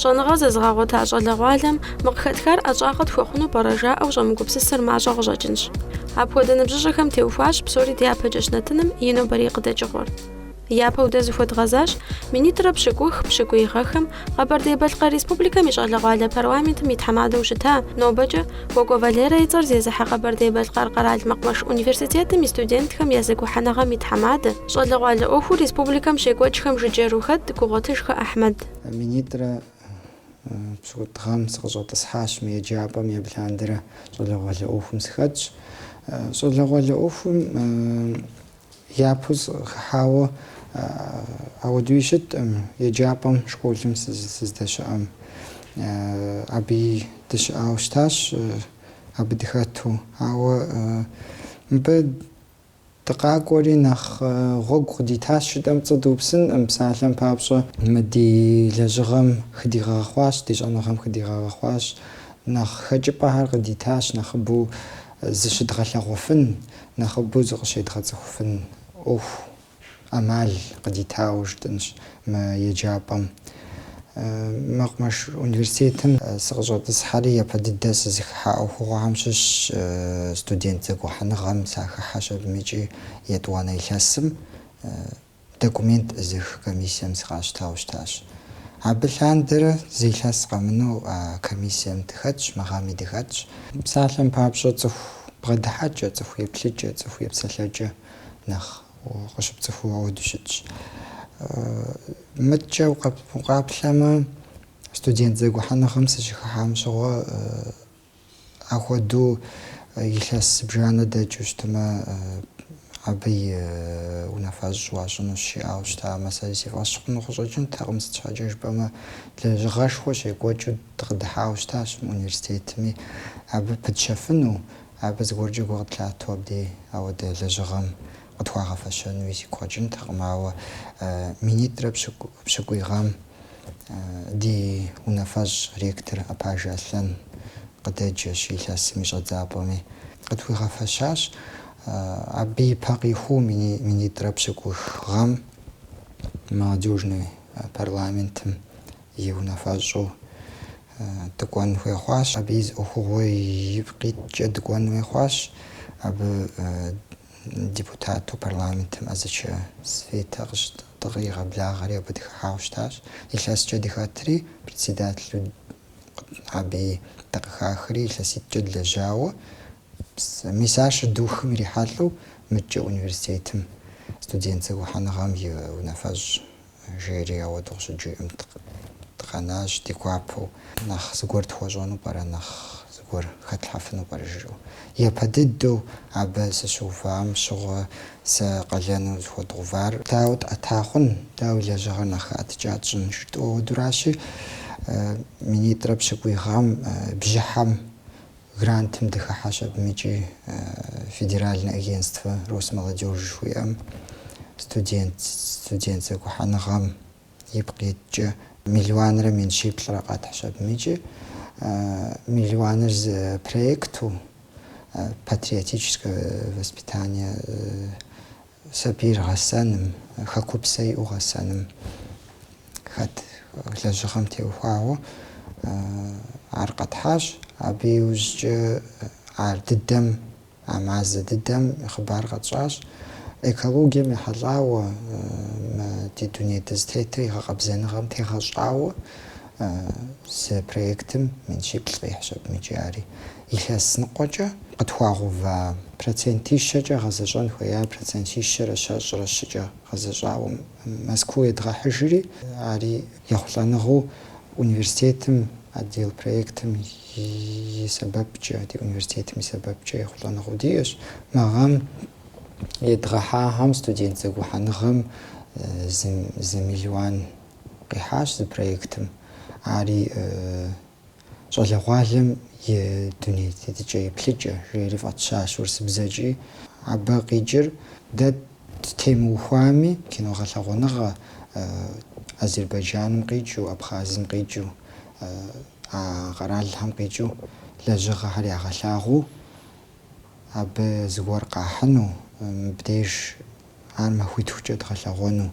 Щӏэныгъэ зэзыгъэгъуэта щӏалэгъуалэм мы къыхэтхар ӏэщӏагъэ тхуэхъуну пӏэрэ жаӏэу щӏэмыгупсысыр мащӏэ къыщӏэкӏынщ. Апхуэдэ ныбжьыщӏэхэм теухуащ псори дяпэкӏэщ нэтыным и нобэрей къыдэкӏыгъуэр. Япэу дэ зыхуэдгъэзащ минитӏрэ пщыкӏух, пщыкӏуий гъэхэм Къэбэрдей-Балъкъэр Республикэм и щӏалэгъуалэ парламентым и тхьэмадэу щыта, нобэкӏэ Кӏуэкӏуэ Валерэ и цӏэр зезыхьэ Къэбэрдей-Балъкъэр къэрал мэкъумэш университетым и студентхэм я зэгухьэныгъэм и тхьэмадэ, щӏалэгъуалэ ӏуэхуу республикэм щекӏуэкӏхэм жыджэру хэт Гугъуэтыжхэ Ахьмэд. Минитӏрэ пщыкӏутӏ гъэм сыкъыщӏэтӏысхьащ мы еджапӏэми, абы лъандэрэ щӏалэгъуалэ ӏуэхум сыхэтщ. Щӏалэгъуалэ ӏуэхум япэу сыкъыхыхьауэ ауэдууи щыткъым еджапӏэм школым сыздэщыӏэм. Абыи дыщыӏауэ щытащ абы дыхэту, ауэ мыбы Дыкъакӏуэри нэхъ гъуэгу къыдитащ жытӏэм пцӏы дыупсынкъым, псалъэм папщӏэ, мы ди лэжьыгъэм хыдигъэгъэхъуащ, ди щӏэныгъэм хыдигъэгъэхъуащ, нэхъ хэкӏыпӏэхэр къыдитащ нэхъыбэу зыщыдгъэлъэгъуэфын, нэхъыбэу зыкъыщедгъэцӏыхуфын ӏуэху. ӏэмал къыдитауэ жытӏэнщ мы еджапӏэм. Мэкъумэш университетым сыкъыщӏэтӏысхьэри, япэ дыдэ сызыхыхьа ӏуэхугъуэхэм щыщ студент зэгухьэныгъэм сахыхьэщ абым икӏи етӏуанэ илъэсым документ ӏызых комиссием сыкъащтауэ щытащ. Абы лъандэрэ зы илъэс къэмынэу а комиссием дыхэтщ, мы гъэми дыхэтщ. Псалъэм папщӏэ, цӏыху бгъэдыхьэкӏэ, цӏыху еплъыкӏэ, цӏыху епсэлъэкӏэ нэхъ Къыщыпцӏыхуу ауэду щытщ. Мыдкӏэ укъаплъэмэ, студент зэгухьэныгъэм сыщыхыхьам щыгъуэ ахуэду илъэс зыбжанэ дэкӏыу щытымэ, абы и унафэщӏ уащӏынущ жиӏауэ щытамэ, сэри си фӏэщ хъуну къыщӏэкӏынтэкъым. Сыт щхьэкӏэ жыпӏэмэ, лэжьыгъэшхуэ щекӏуэкӏыу дыкъыдыхьауэ щытащ мы университетми абы пытщэфыну, Абы зыгуэркӏэ гу къытлъату абдей ауэдэ лэжьыгъэм къытхуагъэфэщэнуи сигу къэкӏынтэкъым, ауэ минитӏрэ пщыкӏуий гъэм ди унафэщӏ ректор Апажэ Аслъэн къыдэджэщ илъэсым и щӏэдзапӏэми къытхуигъэфэщащ. Абы ипэ къихуу минитӏрэ пщыкӏух гъэм Молодежный парламентым и унафэщӏу Дыкӏуэн хуей хъуащ. Абы и зы ӏуэхугъуэ ипкъ иткӏэ дыкӏуэн хуей хъуащ. Абы депутату парламентым Азычэ Светэ къыщы... дыкъигъэблагъэри абы дыхыхьауэ щытащ. Илъэскӏэ дыхэтри, председателу абыи дыкъыхахри илъэситӏкӏэ длэжьауэ. Мис ар щыдухым ирихьэлӏэу мыдкӏэ университетым студент зэгухьэныгъэм и унафэщӏ жери ауэду къыщыджиӏэм дыкъэнащ ди гуапэу. Нэхъ зыгуэр тхуэщӏэну пӏэрэ, нэхъ зыгуэр хэтлъхьэфыну пӏэрэ жыӏэу. Япэ дыдэу абы сыщыувам щыгъуэ сэ къалэну зыхуэдгъэувар. Дауэ тӏэта хъун, дауи лэжьыгъэр нэхъ хэӏэтыкӏа тщӏын жытӏэу. Ауэдуращи, минитӏрэ пщыкӏуй гъэм бжьыхьэм Грантым дыхыхьащ абымыкӏи Федеральное агентство Росмолодежь жыхуиӏэм, студент, студент зэгухьэныгъэм ипкъ иткӏэ миллионрэ мин щиплӏрэ къэтхьщ абымыкӏи миллионыр зы проекту Патриотическое воспитание Сабийр гъэсэным, хэкупсэ иӏэу гъэсэным хэт лэжьыгъэм теухуауэ ар къэтхьащ. Абы иужькӏэ ар дыдэм, а мазэ дыдэм и хъыбар къэтщӏащ. Экологием ехьэлӏауэ, мы ди дуней дызытетыр и гъэкъэбзэныгъэм тегъэщӏауэ зы проектым мин щиплӏ къихьщ абымыкӏи ари. Илъэс ныкъуэкӏэ къытхуагъэува процентищэкӏэ гъэзэщӏэн хуеяр процентищэрэ щэщӏрэ щыкӏэ гъэзэщӏауэ Москву едгъэхьыжри, ари ехъулӏэныгъэу университетым, отдел проектым и сэбэпкӏэ, ди университетым и сэбэпкӏэ ехъулӏэныгъэу диӏэщ. Мы гъэм едгъэхьахэм студент зэгухьэныгъэм зы миллион къихьащ зы проектым. Ари Щӏалэгъуалэм и дуней тетыкӏэ еплъыкӏэ, жери фӏэтщащ урысыбзэкӏи. Абы къикӏыр дэ ттемыухуами, кино гъэлъэгъуэныгъэ Азербайджаным къикӏыу, Абхъазым къикӏыу, а къэралхэм къикӏыу лэжьыгъэхэр ягъэлъагъуу, абы зыгуэр къахьыну, мыбдеж Ар махуитхукӏэ дгъэлъэгъуэну,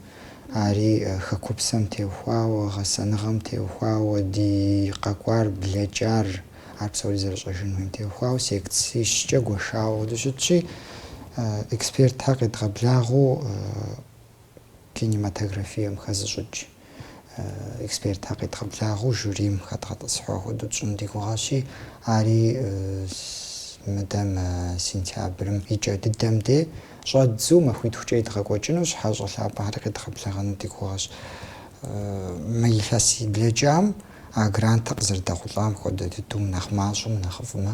ари хэкупсэм теухуауэ, гъэсэныгъэм теухуауэ, ди къэкӏуар, блэкӏар, ар псори зэрыщӏэжын хуейм теухуауэ секцищкӏэ гуэшауэ дыщытщи, экспертхэр къедгъэблагъэу кинематографием хэзыщӏыкӏ. Экспертхэр къедгъэблагъэу жюрийм хэдгъэтӏысхьа хуэдэу тщӏын ди гугъэщи, ари мыдэм, сентябрым и кӏэ дыдэм де щӏэддзэу махуитхукӏэ едгъэкӏуэкӏыну, хьэщӏэ лъапӏэхэри къедгъэблэгъэну ди гугъэщ. Мы илъэс и блэкӏам а грантыр къызэрыдэхъулӏам хуэдэ дыдэу нэхъ мащӏэм, нэхъыфӏмэ,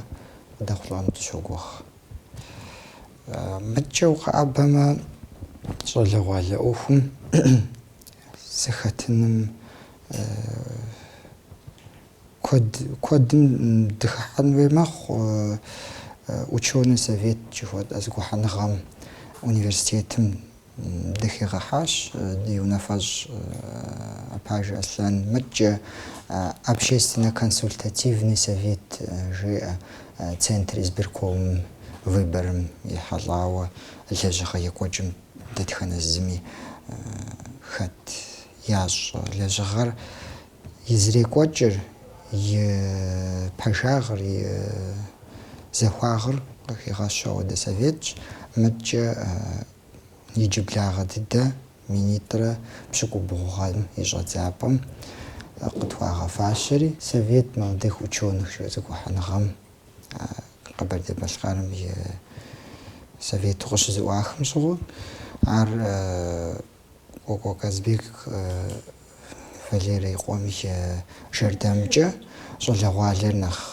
къыдэхъулӏэну дыщогугъ. Мыдкӏэ укъэӏэбэмэ, щӏалэгъуалэ ӏуэхум. зэхэтыным куэд куэдым дыхыхьэн хуей мэхъу ученый совет жыхуэтӏэ зэгухьэныгъэм университетым дыхигъэхьащ ди унафэщӏ Апажэ Аслъэн. Мыдкӏэ общественно-консультативный совет жеӏэ Центр избиркомым выборым ехьэлӏауэ лэжьыгъэ екӏуэкӏым. Дэтхэнэ зыми хэт ящӏ лэжьыгъэр и зэрекӏуэкӏыр, и пэжагъыр, и захуагъыр къыхигъэщу ауэдэ советщ. Мыдкӏэ иджыблагъэ дыдэ минитӏрэ пщыкӏубгъу гъэм и щӏэдзапӏэм къытхуагъэфащэри, Совет молодых ученых зэгухьэныгъэм Къэбэрдей-Балъкъэрым и Совету къыщызэӏуахым щыгъуэ, ар Кӏуэкӏуэ Казбек Валерэ и къуэм и жэрдэмкӏэ щӏалэгъуалэр нэхъ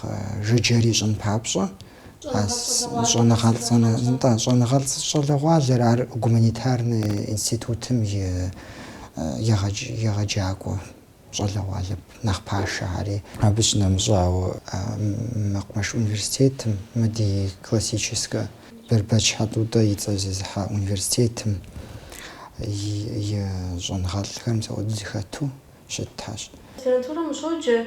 жыджэр ищӏын папщӏэ, нтӏэ, щӏэныгъэлӏ щӏалэгъуалэр, ар гуманитарнэ институтым и егъэджакӏуэ. Щӏалэгъуалэ нэхъ пашэхэри. Абы щынэмыщӏауэ, мэкъумэш университетым, мы ди классическэ Бэрбэч Хьэтӏутӏэ и цӏэр зезыхьэ университетым и щӏэныгъэлӏхэр мис ауэдэу зэхэту щытащ. Аспирантурэм ущоджэ,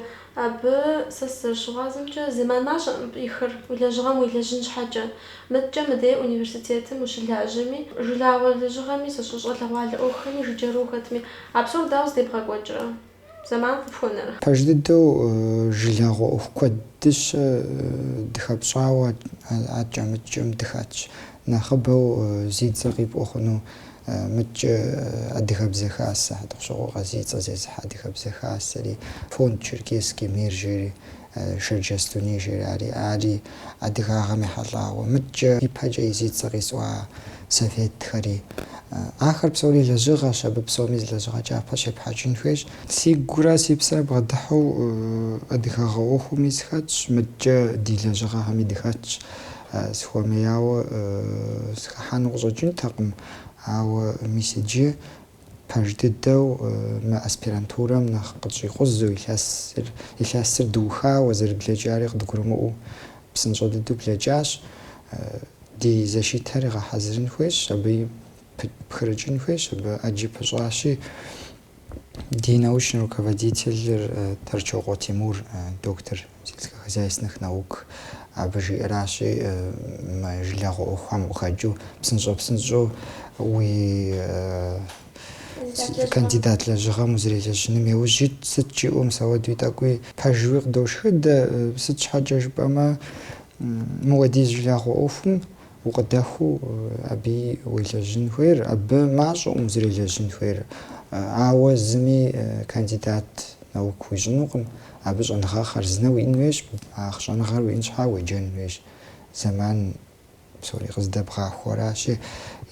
абы сэ сызэрыщыгъуазэмкӏэ, зэман мащӏэӏым ихьыр уи лэжьыгъэм уелэжьын щхьэкӏэ. Мыдкӏэ мыдей университетым ущылажьэми, жылагъуэ лэжьыгъэми щӏалэгъуалэ ӏуэхухэми жыджэру ухэтми, А псор дауэ здебгъэкӏуэкӏрэ? Зэман къыпхуэнэрэ? Пэж дыдэу жылагъуэ ӏуэху куэдыщэ дыхэпщӏауэ адкӏэ-мыдкӏэм дыхэтщ. Нэхъыбэу зи цӏэ къипӏуэ хъуну мыдкӏэ Адыгэбзэ Хасэ, Хьэтӏохъущокъуэ Къазий и цӏэ зезыхьэ Адыгэбзэ Хасэри, фонд Черкесский мир жери, Шэрджэс дуней жери, ари, ари адыгагъэм ехьэлӏауэ. Мыдкӏэ ипэкӏэ зи цӏэ къисӏуа советхэри. Ахэр псори лэжьыгъэщ, абы псоми зы лэжьыгъэ кӏапэ щепхьэкӏын хуейщ. Си гурэ си псэр бгъэдыхьэу адыгагъэ ӏуэхуми сыхэтщ, мыдкӏэ ди лэжьыгъэхэми дыхэтщ. Сыхуэмеяуэ сыхыхьэну къыщӏэкӏынтэкъым, ауэ мис иджы. Пэж дыдэу мы аспирантурэм нэхъ къытщӏикъузу, илъэсыр дыухауэ зэрыблэкӏари къыдгурымыӏуэу псынщӏэ дыдэу блэкӏащ. Ди защитэри гъэхьэзырын хуейщ, абы пхырыкӏын хуейщ, абы ӏэджи пыщӏащи, ди научный руководителыр Торчокъуэ Тимур, доктор. сельскохозяйственных наук, абы жиӏэращи, мы жылагъуэ ӏуэхухэм къыхэкӏыу псынщӏэпсынщӏэу уи кандидат лэжьыгъэм узэрелэжьыным иужь ит, сыт жиӏэу мис ауэдэуи тӏэкӏуи пэжуи къыдошхыдэ, сыт щхьэкӏэ жыпӏэмэ, мыуэдиз жылагъуэ ӏуэхум Укъыдэхуэу абыи уелэжьын хуейр, абы мащӏэкъым узэрелэжьын хуейр. Ауэ зыми кандидат наук уищӏынукъым, абы щӏэныгъэ хъарзынэ уиӏын хуейщ, а щӏэныгъэр уиӏын щхьа уеджэн хуейщ. Зэман псори къыздэбгъахуэращи,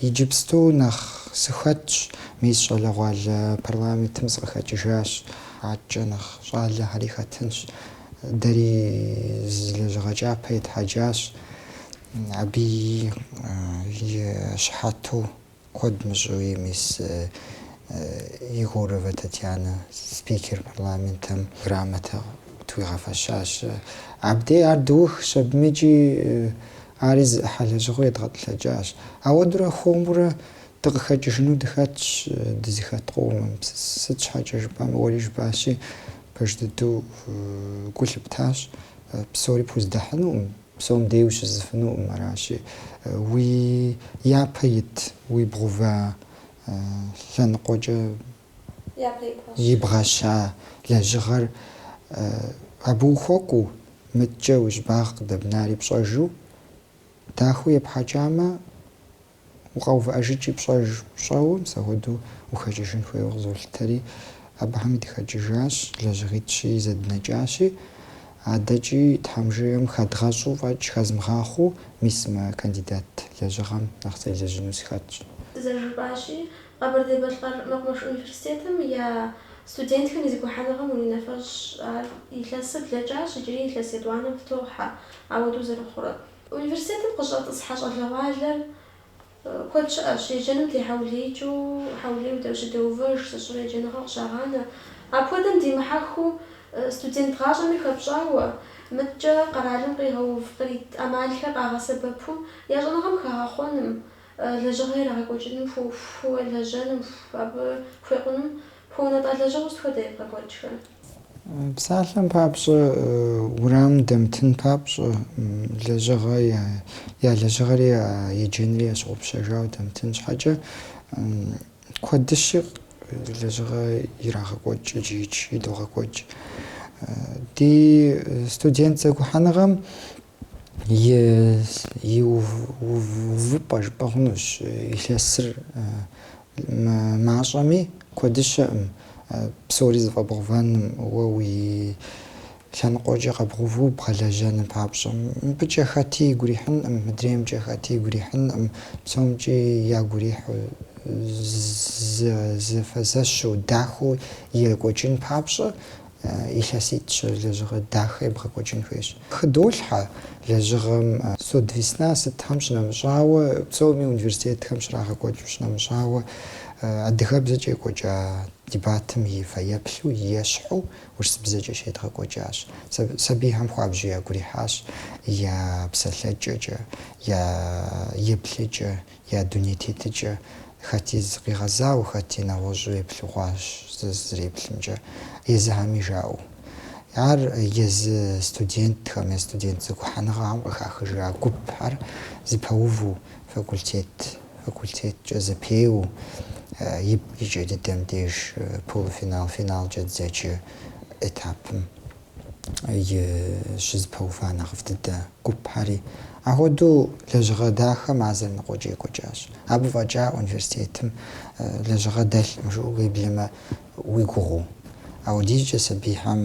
иджыпсту нэхъ сыхэтщ, мис щӏалэгъуалэ парламентым сыкъыхэкӏыжащ, адэкӏэ нэхъ щӏалэхэри хэтынщ. Дэри зы лэжьыгъэ кӏапэ етхьэкӏащ. Абы и щыхьэту куэд мыщӏэуи мис Егоровэ Татьянэ спикер парламентым грамотэ тхуигъэфэщащ. Абдей ар дыухщ, абыми икӏи ари зы ӏыхьэ лэжьыгъэу едгъэтӏылъэкӏащ. Ауэдурэ хуэмурэ дыкъыхэкӏыжыну дыхэтщ дызыхэт къомым. Сыт щхьэкӏэ жыпӏэмэ, уэри жыпӏащи, пэж дыдэу гу лъыптащ, псори пхуздэхьынукъым. Псом дей ущысыфынукъым, аращи, уи япэ ит ибгъэува лъэныкъуэкӏэ ибгъэща лэжьыгъэр абы ухуэкӏуэу, мыдэкӏэ уи щӏыбагъ къыдэбнари пщӏэжу, дахэу епхьэкӏамэ, укъэувыӏэжкӏи пщӏэж пщӏэуэ, мис ахуэдэу ухэкӏыжын хуейуэ къызолъытэри, абыхэми дыхэкӏыжащ, лэжьыгъитӏщи, зэднэкӏащи. Адэкӏи Тхьэм жиӏэм хэдгъэщӏу фӏэкӏ хэзмыгъахъуэу, мис мы кандидат лэжьыгъэм нэхъ селэжьыну сыхэтщ. Зэрыжыпӏащи, Къэбэрдей-Балъкъэр мэкъумэш университетым я студентхэм и зэгухьэныгъэм и унафэщӏ ар илъэсыр блэкӏащ, иджыри илъэс етӏуанэм фытохьэ ауэдэу зэрыхъурэ. Университетым къыщӏэтӏысхьэ щӏалэгъуалэр куэд щыӏэщ, еджэным техьэулеикӏыу, хьэулейуэ дыщыдэувэж, зыщӏыр еджэныгъэ къыщагъанэ. Апхуэдэм димыхьэхыу, студент гъащӏэми хэпщӏауэ, мыткӏэ къэралым къигъэув, кърит ӏэмалхэр къагъэсэбэпу, я щӏэныгъэм хагъэхъуэным, лэжьыгъэ ирагъэкӏуэкӏыным хуэлэжьэным, абы хуекъуным хуэунэтӏа лэжьыгъэу сыт хуэдэ ебгъэкӏуэкӏхэр? Псалъэм папщӏэ, уэрамым дэмытын папщӏэ, лэжьыгъэ, я лэжьыгъэри я еджэнри ящыгъупщэжауэ дэмытын щхьэкӏэ, куэдыщэ лэжьыгъэ ирагъэкӏуэкӏ иджыикӏ идогъэкӏуэкӏ. Ди студент зэгухьэныгъэм И увыпӏэ жыпӏэ хъунущ илъэсыр мащӏэми, куэдыщ, ым, псори зэфӏэбгъэувэным, уэ уи лъэныкъуэкӏэ къэбгъэуву бгъэлэжьэным папщӏэ. Мыбыкӏэ хэти игу ирихьынкъым, мыдреймкӏэ хэти игу ирихьынкъым, псомкӏи ягу ирихьу, зэфэзэщу, дахэу екӏуэкӏын папщӏэ. Илъэситӏ-щ лэжьыгъэ дахэ ебгъэкӏуэкӏын хуейщ. Хыдолъхьэ лэжьыгъэм студвесна сытхэм щынэмыщӏауэ, псоми университетхэм щрагъэкӏуэкӏыу щынэмыщӏауэ адыгэбзэкӏэ екӏуэкӏа дебатым и фэеплъу, и ещхьу урысыбзэкӏэ щедгъэкӏуэкӏащ. Сабийхэм хуабжьу ягу ирихьащ я псэлъэкӏэкӏэ, я еплъыкӏэ, Я дуней тетыкӏэ, хэти зыкъигъэзауэ, хэти нэгъуэщӏу еплъы хъуащ зызэреплъымкӏэ, езыхэми жаӏэу. Ар езы студентхэм я студент зэгухьэныгъэхэм къыхахыжа гупхэр зэпэуву, факультет факультеткӏэ зэпеуэу, ип, и кӏэ дыдэм деж полуфинал, финалкӏэ дызэджэ этапым щызэпэува нэхъыфӏ дыдэ гупхэри. Ахуэдэу лэжьыгъэ дахэ мазэрэ ныкъуэкӏэ екӏуэкӏащ. Абы фӏэкӏа университетым лэжьыгъэ дэлъкъым жыӏэу уеблэмэ уи гугъэу. Ауэдизкӏэ сабийхэм,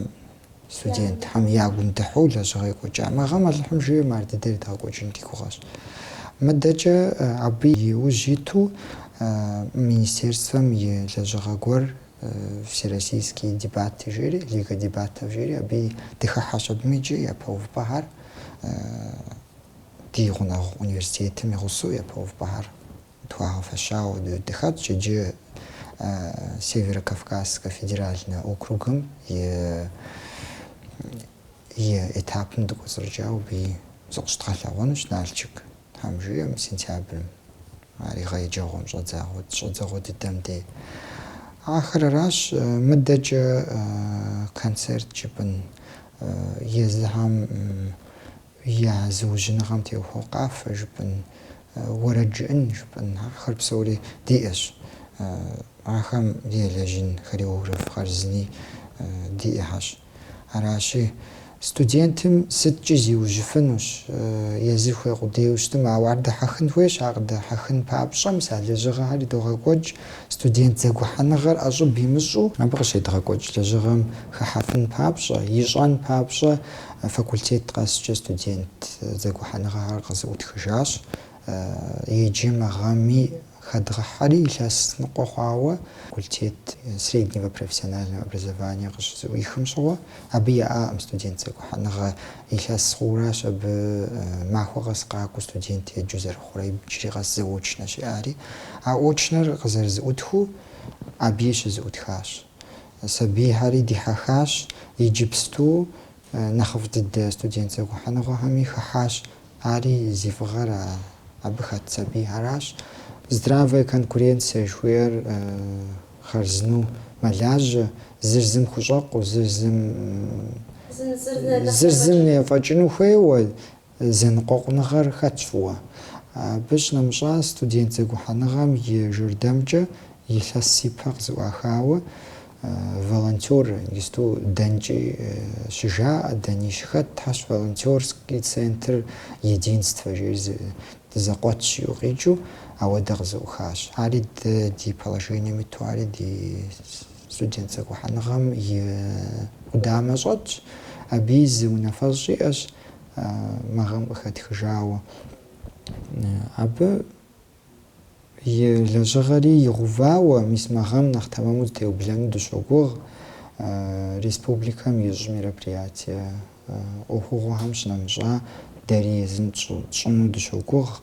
студентхэм я гум дыхьу лэжьыгъэ екӏуэкӏа. Мы гъэм Алыхьым жиӏэм ар дыдэр едгъэкӏуэкӏын ди гугъэщ. Мыдэкӏэ абы и ужь иту министерствэм и лэжьыгъэ гуэр Всероссийские дебаты жери, Лига дебатов жери, абы дыхыхьэщ абыми иджы япэ увыпӏэхэр ди гъунэгъу университетым и гъусэу япэ увыпӏэхэр тхуагъэфэщауэ дыхэтщ иджы Северо-Кавказскэ федеральнэ округым и и этапым дыкӏуэцӏрыкӏауэ абы зыкъыщыдгъэлъэгъуэнущ Налчык. Тхьэм жиӏэм, сентябрым ар гъэ еджэгъуэм щӏэдзэгъуэ дыдэм де. Ахэр аращ, мыдэкӏэ концерт жыпӏын, езыхэм я зыужьыныгъэм теухуэу къафэ жыпӏын, уэрэд жыӏын жыпӏын, ахэр псори диӏэщ. Ахэм елэжьын хореограф хъарзыни диӏэхэщ. Аращи, студентым сыткӏи зиужьыфынущ. Езыр хуей къудейуэ щытмэ, ауэ ар дэхьэхын хуейщ. Ар къыдэхьэхын папщӏэ, мис а лэжьыгъэхэр идогъэкӏуэкӏ, студент зэгухьэныгъэр ӏэщӏыб имыщӏу. Абы къыщедгъэкӏуэкӏ лэжьыгъэм хыхьэфын папщӏэ, ищӏэн папщӏэ факультет къэскӏэ студент зэгухьэныгъэхэр къызыӏутхыжащ. Иджы мы гъэми Хэдгъэхьэри илъэс ныкъуэ хъуауэ факультет среднего профессионального образования къыщызыӏуихым щыгъуэ, абы яӏакъым студент зэгухьэныгъэ. Илъэс хъууращ абы махуэ къэс къакӏуэу студент еджэу зэрыхъурэ, иджыри къэс заочнэщ иӏари. А очнэр къызэрызыӏутхыу абыи щызыӏутхащ. Сабийхьэри дихьэхащ, иджыпсту нэхъыфӏ дыдэ студент зэгухьэныгъэхэми хыхьащ Ари зи фӏыгъэр абы хэт сабийхэращ. Здравая конкуренция жыхуиӏэр хъарзыну мэлажьэ, зыр зым хущӏэкъуу, зыр зым зыр зым ефӏэкӏыну хуейуэ зэныкъуэкъуныгъэр хэтщ фӏыуэ. Абы щынэмыщӏа студент зэгухьэныгъэм и жэрдэмкӏэ илъэс ипэ къызыӏуахауэ Волонтёр, иджысту дэнкӏи щыжаӏэ, дэни щыхэтхэщ волонтёрский центр Единство жери зы дызэкъуэтщ жиӏэу къикӏыу, ауэдэ къызэӏухащ. Ари дэ ди положением иту, ари ди студент зэгухьэныгъэм и къудамэ щӏэтщ, абыи зы унафэщӏ иӏэщ, мы гъэм къыхэтхыжауэ. Абы. И лэжьыгъэри игъэувауэ, мис мы гъэм нэхъ тэмэму зэтеублэну дыщогугъ республикэм ищӏ мероприятие ӏуэхугъуэхэм щынэмыщӏа, дэри езым тщӏыну дыщогугъ.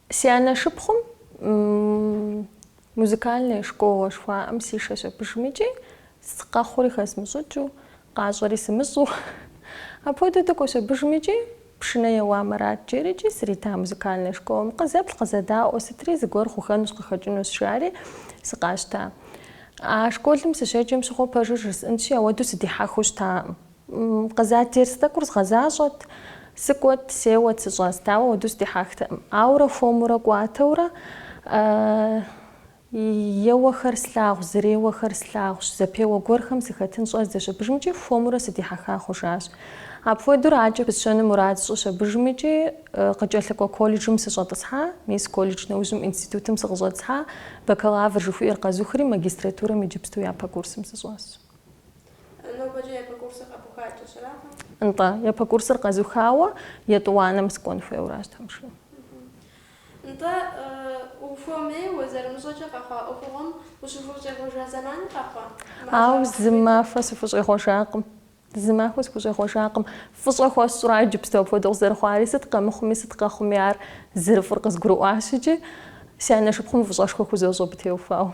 Си анэ шыпхъум музыкальная школэ жыхуаӏэм сишэщ абыжым икӏи къэхъури хэзмыщӏыкӏыу, къащӏэри сымыщӏу. Апхуэдэу дыкӏуэщ абыжым икӏи пшынэ еуамэ арат жери икӏи срита музыкальная школэм. Къызэплъ, къызэдаӏуэ, сытри зыгуэр хъухэнущ, къыхэкӏынущ, жари сыкъащта. А школым сыщеджэм щыгъуэ пэжыр жысӏэнщи, ауэдэу сыдихьэхыу щытакъым. Къызат дерс тӏэкӏур згъэзащӏэт. Сыкӏуэт, сеуэт, сыщӏэст, ауэ ауэдэу сыдихьэхтэкъым. Ауэрэ хуэмурэ кӏуатэурэ еуэхэр слъагъущ, зэреуэхэр слъагъущ, зэпеуэ гуэрхэм сыхэтын щӏэздзэщ абыжым икӏи хуэмурэ сыдихьэха хъужащ. Апхуэдэу адэкӏэ пысщэну мурад сщӏыщ абыжым икӏи къыкӏэлъыкӏуэ колледжым сыщӏэтӏысхьа, мис колледж нэужьым институтым сыкъыщӏэтӏысхьа, бакалавр жыхуиӏэр къэзухри магистратурэм иджыпсту япэ курсым сыщӏэсщ. Нобэкӏэ япэ курсыр къэбухакӏэщ, аракъым? Нтӏэ, япэ курсыр къэзухауэ етӏуанэм сыкӏуэн хуейуэращ Тхьэм жиӏэм. Нтӏэ, ухуэмейуэ зэрымыщӏэкӏэ къэхъуа ӏуэхугъуэм ущыхущӏегъуэжа зэманыр къэхъуа? Ауэ зы махуэ сыхущӏегъуэжакъым. Зы махуэ сыхущӏегъуэжакъым. Фӏыщӏэ хуэсщӏра иджыпсту апхуэдэу къызэрыхъуари? Сыт къэмыхъуми, сыт къэхъуми ар зэрыфӏыр къызгурыӏуащ икӏи си анэшыпхъум фӏыщӏэшхуэ хузощӏ абы теухуауэ.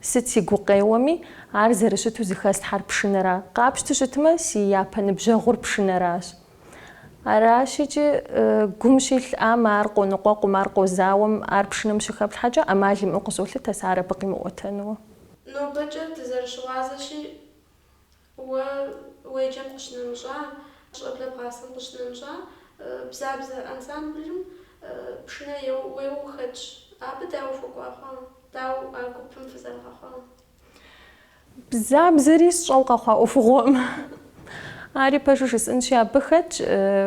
Сыт си гукъеуэми, ар зэрыщыту зыхэслъхьэр пшынэра? Къапщту щытмэ, си япэ ныбжьэгъур пшынэращ. Аращ икӏи, гум щилъам ар къоныкъуэкъум, ар къозауэм, ар пшынэм щыхэплъхьэкӏэ ӏэмал имыӏэу къызолъытэ сэ ар абы къимыӏуэтэнуэ. Нобэкӏэ дызэрыщыгъуазэщи, Уэ уеджэм къыщынэмыщӏа, щӏэблэ бгъасэм къыщынэмыщӏа, бзабзэ ансамблым пшынэ уеуэ ухэтщ. Абы дауэ ухуэкӏуа хъуа? Дауэ а гупым фызэрыгъэхъуа? Бзабзэри сщӏэу къэхъуа ӏуэхугъуэкъым. Ари пэжу жысӏэнщи, абы хэтщ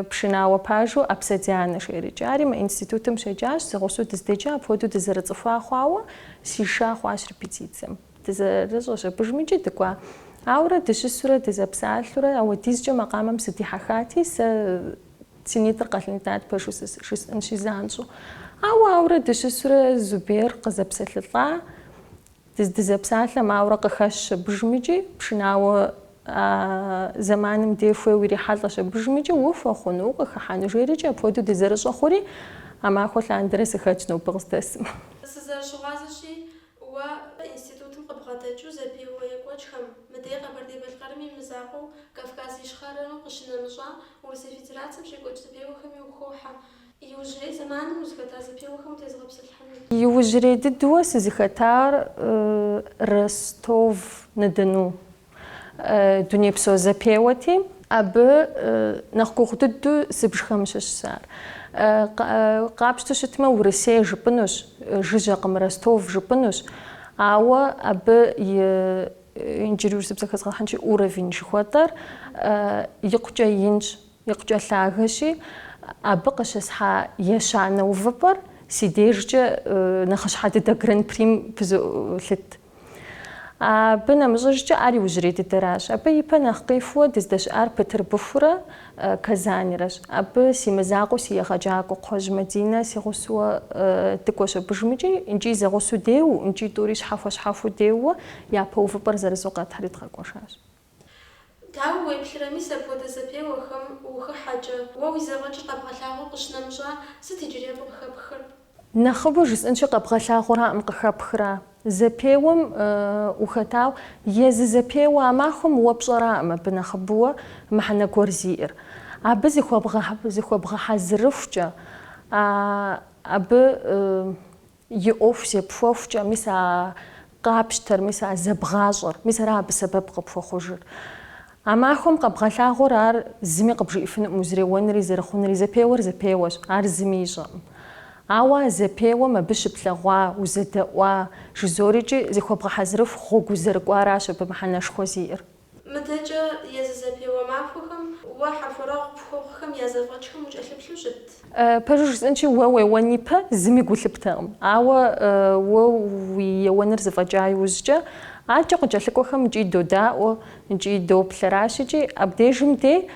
пшынауэ пажу Апсэ Дианэ жиӏэрикӏэ. Ари мы институтым щеджащ, зэгъусэу дыздеджа, апхуэдэу дызэрыцӏыхуа хъуауэ, сиша хъуащ репетицэм. Дызэрыщӏэщ абыжмикӏи дыкӏуа. Ауэрэ дыщысурэ дызэпсалъурэ ауэдизкӏэ макъамэм сыдихьэхати, сэ си нитӏыр къэлындат пэжу жысӏэнщи занщӏэу. Ауэ ауэрэ дыщысурэ Зубер къызэпсэлъылӏа. Дызэпсалъэм ауэрэ къыхэщщ абыжмикӏи, пшынауэ а зэманым дей хуейуэ ирихьэлӏэщ абыжмикӏи, ухуэхъуну, укъыхыхьэну жеӏэрикӏи, апхуэдэу дызэрыщӏэ хъури, а махуэ лъандэрэ сыхэтщ нобэ къыздэсым. Сызэрыщыгъуазэщи, Уэ, институтым къыбгъэдэкӏыу зэпеуэ екӏуэкӏхэм, мыдей Къэбэрдей-Балъкъэрым и мызакъуэу Кавказ Ищхъэрэу къыщынэмыщӏа Урысей Федерацэм щекӏуэкӏ зэпеуэхэми ухохьэ, иужьрей зэманым узыхэта зэпеуэхэм утезыгъэпсэлъыхьыну. Иужьрей дыдэу сызыхэтар Ростов-на-Дону Дунейпсо зэпеуэти. Абы нэхъ гугъу дыдэу зыбжхэм щыщщ ар. Къапщтэу щытмэ, Урысей жыпӏынущ, жыжьэкъым, Ростов жыпӏынущ. Ауэ абы и, иджыри урысыбзэ хэзгъэхьынщи, уровень жыхуэтӏэр икъукӏэ инщ, икъукӏэ лъагэщи, абы къыщысхьа ещанэ увыпӏэр си дежкӏэ нэхъыщхьэ дыдэ Гран-прим пызолъыт. Абы нэмыщӏыжкӏэ ар иужьрей дыдэращ. Абы ипэ нэхъ къихуэу дыздэщыӏар Бытырбыхурэ Казаньрэщ. Абы си мызакъуэу си егъэджакӏуэ Кхъуэжь Мадинэ си гъусэуэ дыкӏуэщ абыжмикӏи, икӏи зэгъусэу деуэу, икӏи тӏури щхьэхуэ-щхьэхуу деуэу япэ увыпӏэр зырызу къэтхьри дыкъэкӏуэжащ. Дауэ уеплърэ, мис апхуэдэ зэпеуэхэм ухыхьэкӏэ, уэ уи зэфӏэкӏыр къэбгъэлъагъуэу къыщынэмыщӏа, сыт иджыри къыхэпхыр? Нэхъыбэу жысӏэнщи, къэбгъэлъагъуэраӏым къыхэпхра? Зэпеуэм ухэтау, езы зэпеуэ а махуэм уэ пщӏэраӏым абы нэхъыбэуэ мыхьэнэ гуэр зиӏэр. Абы зыхуэбгъэхьэзырыхукӏэ, абы И ӏуэху зепхуэхукӏэ, мис а къапщтэр, мис а зэбгъащӏэр, мис ара абы сэбэп къыпхуэхъужыр. А махуэм къэбгъэлъагъуэр ар зыми къыбжиӏэфынукъым, узреуэнри зэрыхъунри, зэпеуэр зэпеуэщ, ар зыми ищӏэкъым. Ауэ а зэпеуэм абы щыплъэгъуа, узэдэӏуа, жызорикӏи, зыхуэбгъэхьэзырыху гъуэгу узэрыкӏуаращ абы мыхьэнэшхуэ зиӏэр. Мыдэкӏэ езы зэпеуэ махуэхэм уэ хьэхуэрэгъу пхуэхъухэм я зэфӏэкӏхэм укӏэлъыплъу щыт? Пэжу жысӏэнщи, уэ уеуэн ипэ зыми гу лъыптэкъым. Ауэ уэ уи еуэныр зэфӏэкӏа иужькӏэ, акӏэ къыкӏэлъыкӏуэхэм икӏи додаӏуэ, икӏи доплъ, аращ икӏи, абдежым де,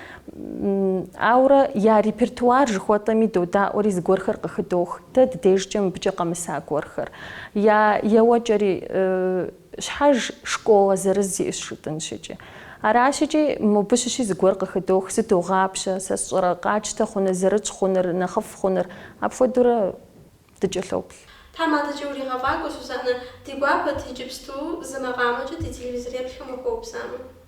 ауэрэ я репертуар жыхуэтӏэми додаӏуэри зыгуэрхэр къыхыдох, дэ дыдежкӏэ мыбыкӏэ къэмыса гуэрхэр, я еуэкӏэри. Щхьэж школэ зырыз иӏэщ жытӏэнщ икӏи. Аращ икӏи, мыбы щыщи зыгуэр къыхыдох, зыдогъапщэ, сэ сщӏэрэ, къатщтэ хъуныр, зэрытщӏ хъуныр, нэхъыфӏ хъуныр, апхуэдэурэ дыкӏэлъоплъ. Тхьэм адэкӏэ уригъэфӏакӏуэ, Сусанэ, ди гуапэт иджыпсту зы макъамэкӏэ ди телевизореплъхэм ухуэупсамэ.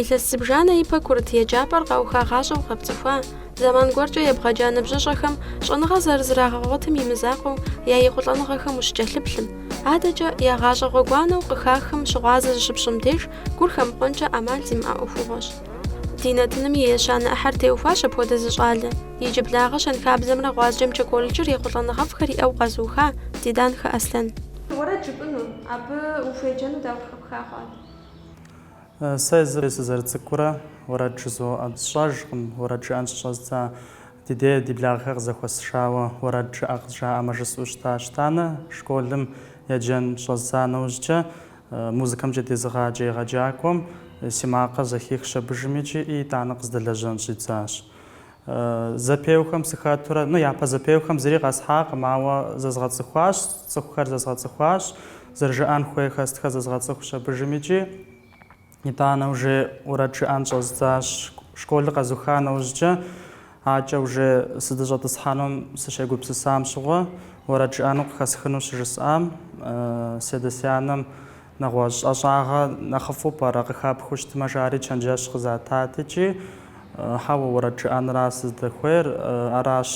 Илъэс зыбжанэ ипэ курыт еджапӏэр къаухагъащӏэу къэпцӏыхуа, зэман гуэркӏэ ебгъэджа ныбжьыщӏэхэм щӏэныгъэ зэрызрагъэгъуэтым и мызакъуэу я ехъулӏэныгъэхэм ущыкӏэлъыплъым, адэкӏэ я гъащӏэ гъуэгуанэу къыхахым щыгъуазэ зыщыпщӏым деж гур хэмыхъуэнкӏэ ӏэмал зимыӏэ ӏуэхугъуэщ. Ди нэтыным и ещанэ ӏыхьэр теухуащ апхуэдэ зы щӏалэ. Иджыблагъэ щэнхабзэмрэ гъуазджэмкӏэ колледжыр ехъулӏэныгъэфӏхэр иӏэу къэзыуха Диданхэ Аслъэн. Уэрэд жыпӏэну, абы ухуеджэну дауэ. Сэ езыр сызэрыцӏыкӏурэ уэрэд жызоӏэ. Сщӏэжкъым уэрэд жыӏэн щыщӏэздза. Ди дей, ди благъэхэр къызэхуэсшауэ, уэрэд жыӏэ къызжаӏэмэ жысӏэу щытащ. Итӏанэ школым еджэн щӏэздза нэужькӏэ, музыкэмкӏэ дезыгъаджэ егъэджакӏуэм си макъыр зэхихщ абыжым икӏи итӏанэ къыздэлэжьэн щӏидзащ. Зэпеухэм сыхэтурэ, ну, япэ зэпеухэм зыри къэсхьакъым, ауэ зэзгъэцӏыхуащ, цӏыхухэр зэзгъэцӏыхуащ, зэрыжыӏэн хуейхэ сытхэр зэзгъэцӏыхущ абыжым икӏи. Итӏанэ уже уэрэд жыӏэн щӏэздзащ. Школыр къэзуха нэужькӏэ, акӏэ уже сыдыщӏэтӏысхьэнум сыщегупсысам щыгъуэ, уэрэд жыӏэну къыхэсхыну щыжысӏам, си адэ-си анэм Нэгъуэщӏ ӏэщӏагъэ нэхъыфӏу пӏэрэ къыхэпхыу щытмэ, жари чэнджэщ къызатат икӏи, Хьэуэ, уэрэд жыӏэнра сыздэхуейр, аращ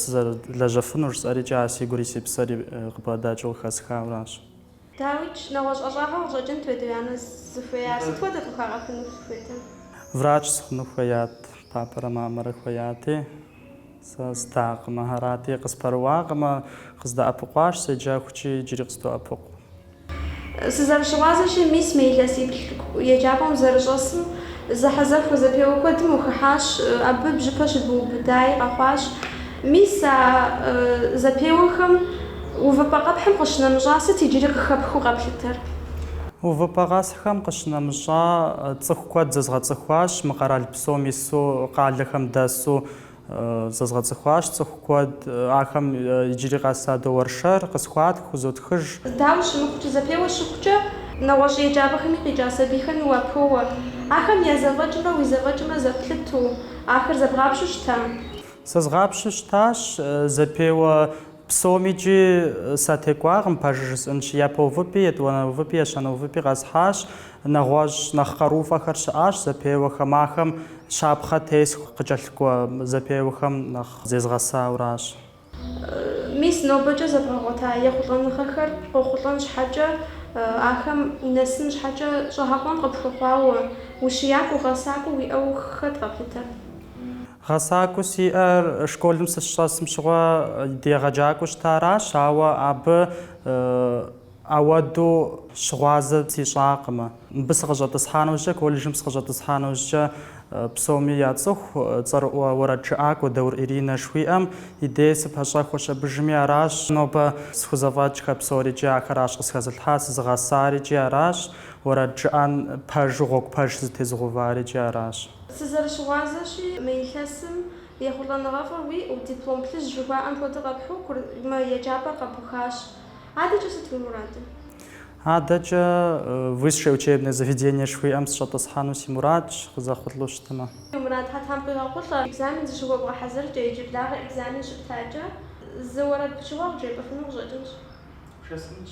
сызэрылэжьэфынур, жысӏэри икӏи ар си гури си псэри къыбгъэдэкӏыу къыхэсхауэ аращ. Дауикӏ, нэгъуэщӏ ӏэщӏагъэ къыщӏэкӏынт уи адэ-уи анэ зыхуеяр, сыт хуэдэ къыхагъэхыну хуейтэ? Врач сыхъуну хуеят, папэрэ мамэрэ хуеяти, сэ здакъымэ. Арати, къыспэрыуакъымэ, къыздэӏэпыкъуащ, седжэхукӏи, иджыри къыздоӏэпыкъу. Сызэрыщыгъуазэщи, мис мы илъэсиплӏ еджапӏэм узэрыщӏэсым зэхьэзэхуэ зэпеуэ куэдым ухыхьащ, абы бжьыпэ щыбыубыдаи къэхъуащ. Мис а зэпеуэхэм увыпӏэ къэпхьым къыщынэмыщӏа сыт иджыри къыхэпхыу къэплъытэр? Увыпӏэ къэсхьхэм къыщынэмыщӏа цӏыху куэд зэзгъэцӏыхуащ, мы къэрал псом ису, къалэхэм дэсу, Зэзгъэцӏыхуащ цӏыху куэд. Ахэм иджыри къэс садоуэршэр, къысхуатх, хузотхыж. Дауэ щымыхъукӏэ, зэпеуэ щыхъукӏэ. Нэгъуэщӏ еджапӏэхэми къикӏа сабийхэми уапоуэ. Ахэм я зэфӏэкӏымрэ уи зэфӏэкӏымрэ зэплъыту, ахэр зэбгъапщу щыта? Зэзгъапщу щытащ, зэпеуэ. Псомикӏи сатекӏуакъым, пэжыр жысӏэнщи, япэ увыпӏи, етӏуанэ увыпӏи, ещанэ увыпӏи къэсхьащ. Нэгъуэщӏ нэхъ къарууфӏэхэр щыӏащ зэпеуэхэм, ахэм щапхъэ тесху къыкӏэлъыкӏуэ зэпеуэхэм нэхъ зезгъэсауращ. Мис нобэкӏэ зэбгъэгъуэта ехъулӏэныгъэхэр къохъулӏэн щхьэкӏэ, ахэм унэсын щхьэкӏэ щӏэгъэкъуэн къыпхуэхъуауэ, ущиякӏуэу, гъэсакӏуэу уиӏэу хэт къэплъытэр? Гъэсакӏуэу сиӏэр школым сыщыщӏэсым щыгъуэ ди егъэджакӏуэу щытаращ, ауэ абы ауэду щыгъуазэ сищӏакъым. Мыбы сыкъыщӏэтӏысхьа нэужькӏэ, колледжым сыкъыщӏэтӏысхьа нэужькӏэ псоми яцӏыху цӏэрыӏуэ уэрэджыӏакӏуэ Даур Иринэ жыхуиӏэм и дей сыпэщӏэхуэщ абыжми аращ, нобэ схузэфӏэкӏхэр псори икӏи ахэращ къысхэзылъхьар, сызыгъэсари икӏи аращ, уэрэд жыӏэн пэжу гъуэгу пэж сызытезыгъэувари икӏи аращ. Сызэрыщыгъуазэщи, мы илъэсым ехъулӏэныгъэфӏыр уиӏэу, диплом плъыжь жыхуаӏэм хуэдэу къэпхьурэ мы еджапӏэр къэбухащ. Адэкӏэ сыт уи мурадыр? Адэкӏэ высшее учебное заведение жыхуиӏэм сыщӏэтӏысхьэну си мурадщ, къызэхъулӏэу щытмэ. Уи мурадхэр Тхьэм къыуигъэхъулӏэ. Экзамен зыщыхуэбгъэхьэзыркӏэ, иджыблагъэ экзамен щыптакӏэ, зы уэрэд пычыгъуэ къыджепӏэфыну къыщӏэкӏынщ. Бжесӏэнщ.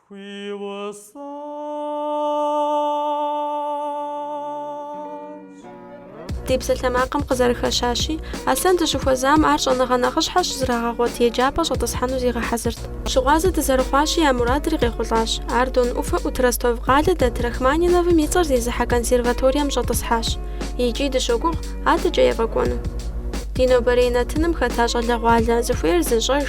хуиусащ. Ди псалъэмакъым къызэрыхэщащи, Аслъэн дыщыхуэзам ар щӏэныгъэ нэхъыщхьэ щызрагъэгъуэт еджапӏэ щӏэтӏысхьэну зигъэхьэзырт. Щыгъуазэ дызэрыхъуащи, я мурадри къехъулӏащ. Ар Дон ӏуфэ ӏут Ростов къалэ дэт Рахманиновым и цӏэр зезыхьэ консерваторием щӏэтӏысхьащ. Икӏи дыщогугъ, адэкӏэ ефӏэкӏуэну. Ди нобэрей нэтыным хэта щӏалэгъуалэ, зыхуейр зыщӏэж,